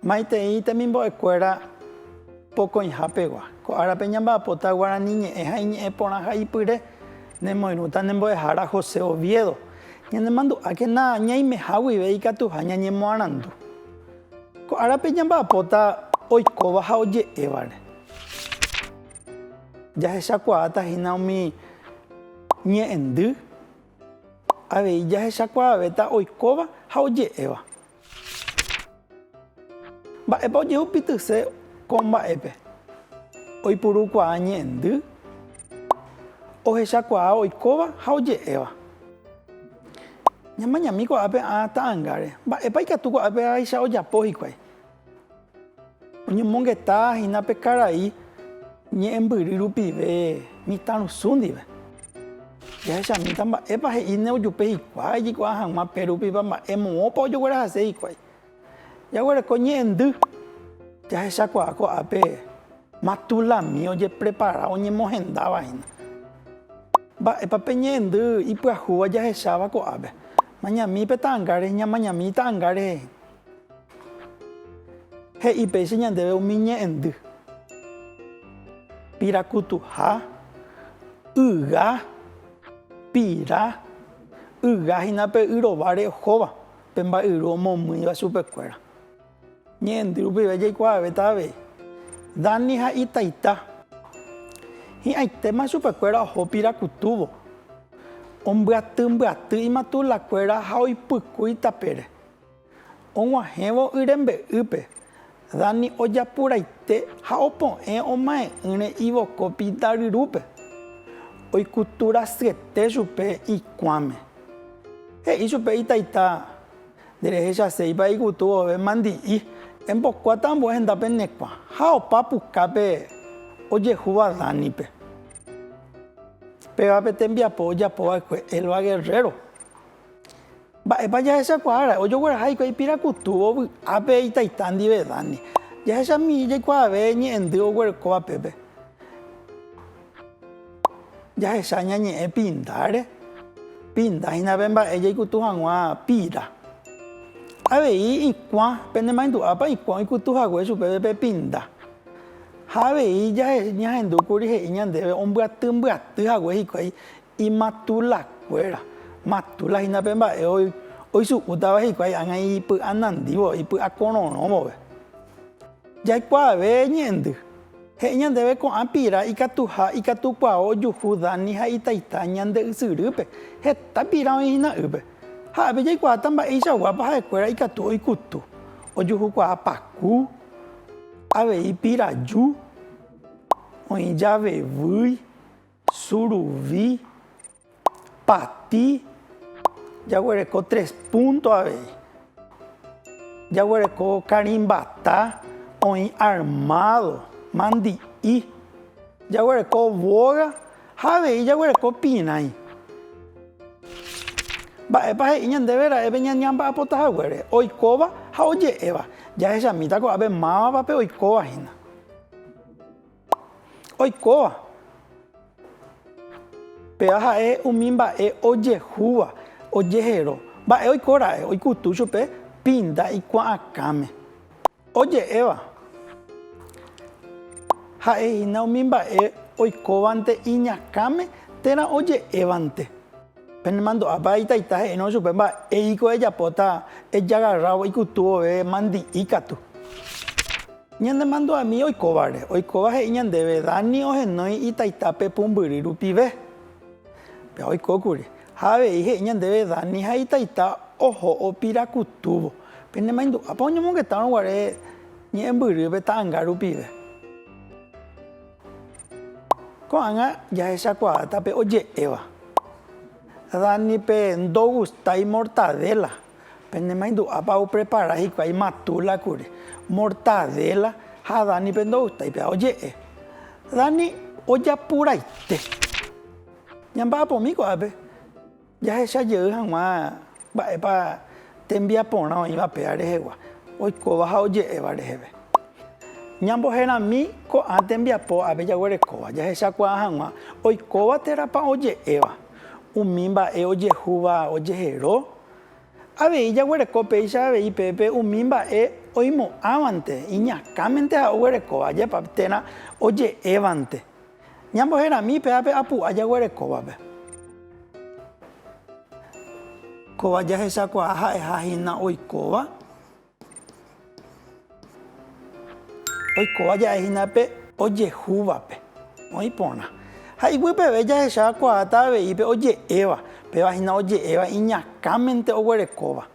Maitei temimbo'ekuéra pokõiha pegua. Ko árape ñamba'apóta guarani ñe'ẽ ha iñe'ẽ porã ha ipyre. Nemoirũta ne mbo'ehára José Oviedo. Ñanemandu'ákena ñaimeha guive ikatuha ñañemoarandu. Ko árape ñamba'apóta oikóva ha oje'évare. Jahechakuaáta hína umi ñe'ẽndy, avei jahechakuaavéta oikóva ha oje'éva. Mba'épa ojehupitýse ko mba'épe? Oipurukuaa ñe'ẽndy, ohechakuaa oikóva ha oje'éva. Ñamañami ko'ápe ã ta'angáre, mba'épa ikatu ko'ápe háicha ojapo hikuái? Oñomongeta hína pe karai ñe'ẽmbyry rupive mitãrusu ndive. Jahechamíta mba'épa he'i ne ojupe hikuái jikuaa hag̃ua pe rupipa mba'e moõpa ojoguerahase hikuái. Jaguereko ñe'ẽndy, jahechakuaa ko'ápe matulami ojeprepara oñemohendáva hína. Mba'épa pe ñe'ẽndy ipyahúva jahecháva ko'ápe? Mañami pe ta'ãnga rehe, ñamañami ta'ãnga rehe. He'i péicha ñandéve umi ñe'ẽndy, pirakutuha, yga, pira, yga hína pe y rováre ohóva, pe mba'yru omomýiva chupekuéra. Ñe'ẽndy rupive jaikuaavéta avei, Dani ha itaita. Hi'ãitéma chupekuéra oho pirakutúvo, ombyatymbyatýi matulakuéra ha oipykúi tapére. Og̃uahẽvo y rembe'ýpe, Dani ojapuraite ha opo'ẽ omae'ỹre ivokópi Daryrúpe. Oikutu rasyeté chupe ikuãme. He'i chupe itaita, Nderehechaséipa ikutu vove mandi'i, embokuáta ambue henda penekuã, ha opa pukápe ojehúva Danipe. Péva pe tembiapo ojapova'ekue Elba Guerrero Mba'épa jahechakuaára'e ojogueraha hikuái ipirakutuvo vy'ápe itaita ndive Dani? Jahecha mihi jaikuaave ñe'ẽndy oguerekóva pépe. Jahecha ñañe'ẽ pindáre, pinda hína pe mba'e jaikutu hag̃ua pira. Avei ikuã, penemaendu'ápa ikuã oikutu hague chupe pe pinda. Ha avei ñahendúkuri he'i ñandéve ombyaty mbyaty hague hikuái Imatula kuéra, matula hína pe mba'e oichu'ũtava hikuái ágã ipy'a nandívo, ipy'a kororõ vove. Jaikuaave ñe'ẽndy, he'i ñandéve ko'ã pira ikatuha, ikatukuaó ojuhu Dani ha itaita ñande ysyrýpe, heta pira oĩ hína ýpe. Ha'épe jaikuaáta mba'eichaguápa ha'ekuéra ikatu oikutu, ojuhukuaa paku, avei piraju, oĩ javevýi. Suruvi, pati, jaguereko tres punto avei. Jaguereko karimbata, oĩ armado, mandi'i. Jaguereko boga ha avei jaguereko pirãi. Mba'épa he'i ñandéve ra'épe ñañamba'apota haguére? Oikóva ha oje'éva. Jahechamíta ko'ápe mávapa pe oikóva hína. Oikóva. Péva ha'e umi mba'e ojehúva, ojehero. Mba'e oiko ra'e, oikutu chupe pinda ikuaakãme. Oje'éva. Ha'ehína umi mba'e oikóvante iñakãme térã oje'évante. Penemandu'ápa itaita he'írõ chupe mba'e híko ejapóta ejagarrávo ikutu vove mandi'i katu. Ñanemandu'ami oikóvare. Oikóva he'i ñandéve Dani ohenói itaita pe pumbyry rupive. Péva oikókuri. Ha avei he'i ñandéve Dani ha itaita oho opira kutúvo. Penemaindu'ápa oñomongetárõ guare ñe'ẽmbyrýpe ta'anga rupive. Ko'ág̃a jahechakuaáta pe oje'éva. Danipe ndogustái mortadéla. Penemaindu'ápa oprepara hikuái matúla kuri. Mortadéla ha Danipe ndogustái péva. Oje'e, Dani ojapuraite. Ñamba'apumi ko'ápe. Jahecha jey hag̃ua mba'épa tembiaporã oĩva péa rehegua oikóva ha oje'éva reheve. Ñamboherami ko'ã tembiapo ápe jaguerekóva jahechakuaa hag̃ua oikóva térãpa oje'éva, umi mba'e ojehúva ojehero. Avei jaguereko péicha avei pépe umi mba'e oimo'ãvante iñakãmente ha oguerekóva ajépa térã oje'évante. Ñamboherami pe ápe apu'a jaguerekóvape. Kóva jahechakuaa ha'eha hína oikóva. Oikóva ja'e hína pe ojehúvape, oĩ porã. Ha iguýpeve jahecha kuaáta avei pe oje'éva, péva hína oje'éva iñakãmente oguerekóva.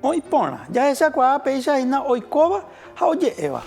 Oĩ porã, jahechakuaa péicha hína oikóva ha oje'éva.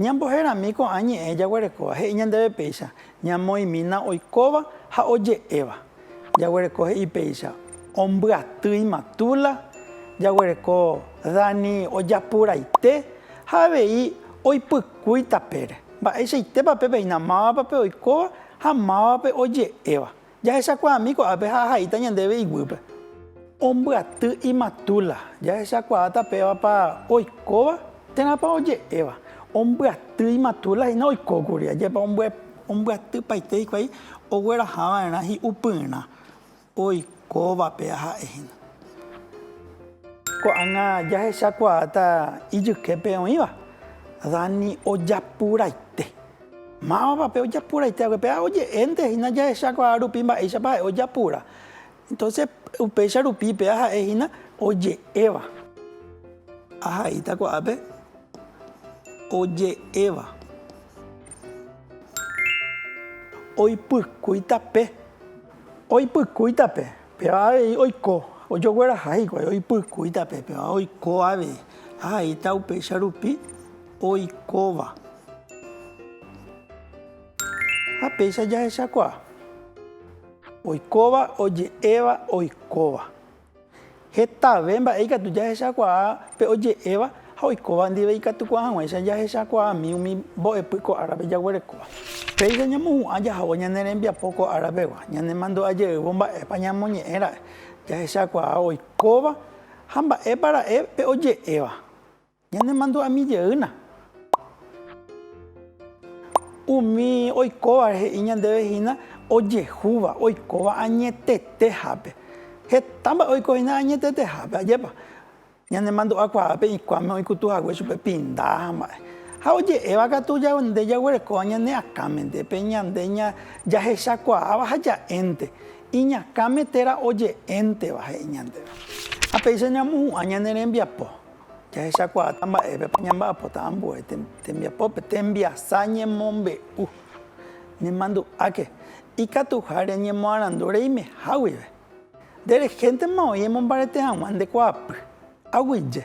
Ñamboherami ko'ã ñe'ẽ jaguerekóva he'i ñandéve péicha ñamoĩmína oikóva ha oje'éva. Jaguereko he'i péicha ombyatýima Tula, jaguereko Dani ojapuraite ha avei oipykúi tapére. Mba'eichaitépa pepeina mávapa pe oikóva ha mávapa oje'éva? Jahechakuaami ko'ápe ha ahaíta ñandéve iguýpe. Ombyaty imatula. Jahechakuaáta pévapa oikóva térãpa oje'éva. Ombyaty imatula hína oikókuri. Ajépa ombyatypaite hikuái oguerahava'erã hi'upyrã. Oikóvape aha'e hína. Ko'ág̃a jahechakuaáta ijyképe oĩva, Dani ojapuraite. Mávapa pe ojapuraite hague? Péa oje'énte hína jahechakuaa rupi mba'éichapa ha'e ojapura. Entonces upéicha rupi péa ha'e hína oje'éva. Ahaíta ko'ápe oje'éva. Oipykúita pe. Oipykúita pe, péva avei oiko. Ojogueraha hikuái oipykúita pe, péva oiko avei. Ahaíta upéicha rupi oikóva. Ha péicha jahechakuaa. Oikóva, oje'éva, oikóva. Hetave mba'e ikatu jahechakuaa pe oje'éva ha oikóva ndive ikatukuaa hag̃uáicha jahechakuaami umi mbo'epy ko árape jaguerekóva. Péicha ñamohu'ã jahávo ñane rembiapo ko árapegua, ñanemandu'a jeývo mba'épa ñamoñe'ẽ ra'e jahechakuaa oikóva ha mba'épa ra'e pe oje'éva. Ñanemandu'ami jeýna. Umi oikóvare he'i ñandéve hína ojehúva, oikóva añetetehápe. Heta mba'e oiko hína añetetehápe, ajépa. Ñanemandu'a kuaápe ikuáme oikutu hague chupe pinda ha mba'e. Ha oje'éva katu nde jaguerekóva ñane akãmente, pe ñande jahechakuaáva ha ja'énte, iñakãme térã oje'énteva, he'i ñandéve. Ha péicha ñamohu'ã ñane rembiapo. Jahechakuaáta mba'épepa ñamba'apota ambue tembiapópe tembiasa ñemombe'u. Nemandu'áke, ikatuha reñemoarandu reimeha guive. Nde rehéntema oĩ emombarete hag̃ua nde kuaapy. Aguyje.